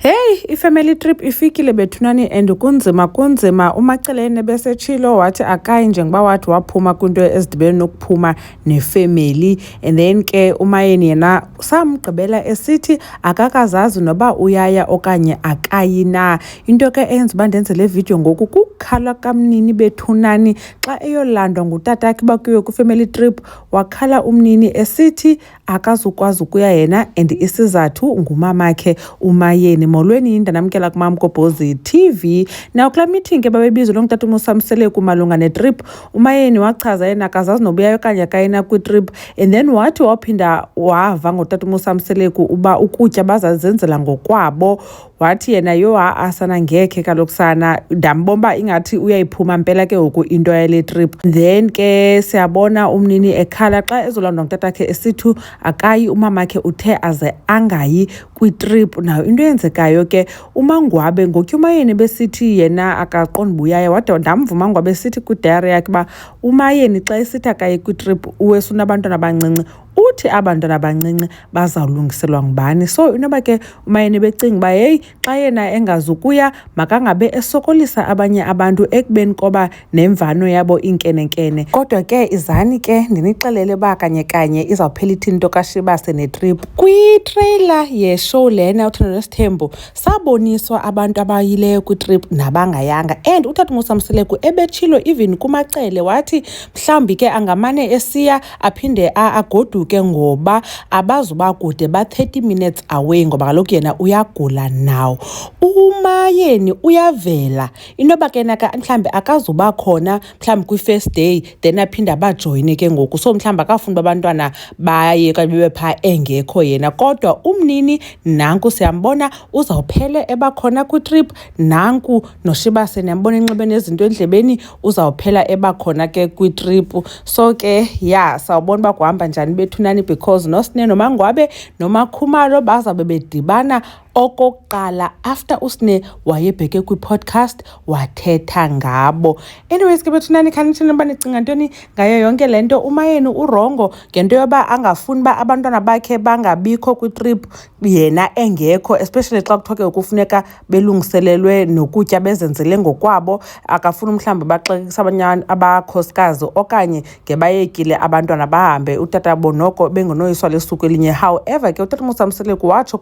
Hey, i-family trip ifikile bethunani and kunzima kunzima umacelene besetshilo wathi akayi njengoba wathi waphuma kwinto ezidibene nokuphuma nefemeli and then ke umayeni yena samgqibela esithi akakazazi noba uyaya okanye akayi na into ke eyenza uba ndenze le vidiyo ngoku kukhala kamnini bethunani xa eyolandwa ngutatakhe bakuyo kwifamily trip wakhala umnini esithi akazukwazi ukuya yena and isizathu ngumamakhe umayeni molweni yinda namkela kumam kobhozi tv nawo kulaa meeting ke babebizwe lo ngutata unosamseleku malunga netrip umayeni wachaza yena akazazi nobuyayo okanye akayena kwitrip and then wathi waphinda wava ngotata unosamseleku uba ukutya bazazenzela ngokwabo wathi yena yho ha-a sana ngekhe kaloku sana ndambona uba ingathi uyayiphuma mpela ke ngoku into yale trip then ke siyabona umnini ekhala xa ezolandwa ngutatakhe esithu akayi umamakhe uthe aze angayi kwitrip nayo into eyenzekayo ke umangwabe ngotyumayeni besithi yena akaqondi buyaya wade ndamva umangwabe esithi kwidayari yakhe uba umayeni xa esithi akaye kwitrip uwesunabantwana abancinci uthi aba bantwana bancinci bazawulungiselwa ngubani so inoba ke umayeni becinga uba heyi xa yena engazukuya makangabe esokolisa abanye abantu ekubeni koba nemvano yabo iinkenenkene kodwa ke izani ke ndinixelele uba kanye kanye izawuphela ithi nto kashibase netrip kwitreyila yeshow lena uthando nesithembu saboniswa abantu abayileyo kwitrip nabangayanga and utata umusamseleku ebetshilo even kumacele wathi mhlawumbi ke angamane esiya aphinde agoduke ngoba abazuba kude ba-30 minutes away ngoba kaloku yena uyagula nawo umayeni uyavela inoba ke naka mhlawumbi akazuba khona mhlawumbi kwi-first day then aphinde abajoyine ke ngoku so mhlawumbi akafuni uba abantwana baye okanye bebe phaa engekho yena kodwa umnini nanku siyambona uzawuphele ebakhona kwitrip nanku noshibase niyambona enxibe nezinto endlebeni uzawuphela eba khona ke kwitripu so ke ya sawubona uba kuhamba njani bethunani because nosine nomangwabe nomakhumalo bazawube bedibana okokuqala after usine wayebheke kwi-podcast wathetha ngabo anyways ke bethunani khanithini uba nicinga ntoni ngayo yonke le nto umayeni urongo ngento yoba angafuni uba abantwana bakhe bangabikho kwitrip yena engekho especially xa kuthiwa ke kufuneka belungiselelwe nokutya bezenzele ngokwabo akafuni mhlawumbi baxekisa abanye abakhosikazi okanye ngebayekile abantwana bahambe utata bonoko bengenoyiswa lesuku elinye however ke utata musamseleku watsho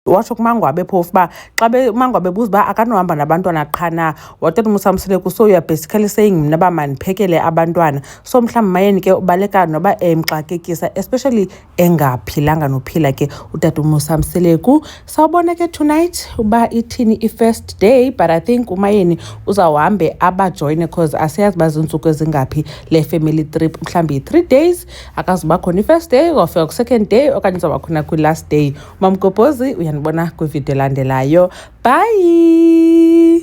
watsho kumangwabe phofu uba xa umangwabe buza uba akanohamba nabantwana qha na watata umusamseleku so youare basically saying mna uba mandiphekele abantwana so mhlawumbi mayeni ke ubaleka noba emxakekisa especially engaphilanga nophila ke utata umusa mseleku sawubona ke tonight uba ithini i-first day but i think umayeni uzawuhambe abajoyine because asiyazi uba zintsuku ezingaphi le family trip mhlawumbi yi-three days akazuba khona i-first day uzawufika kwi-second day okanye uzawuba khona kwi-last day umamgobhozi uyanibona kwividiyo elandelayo bye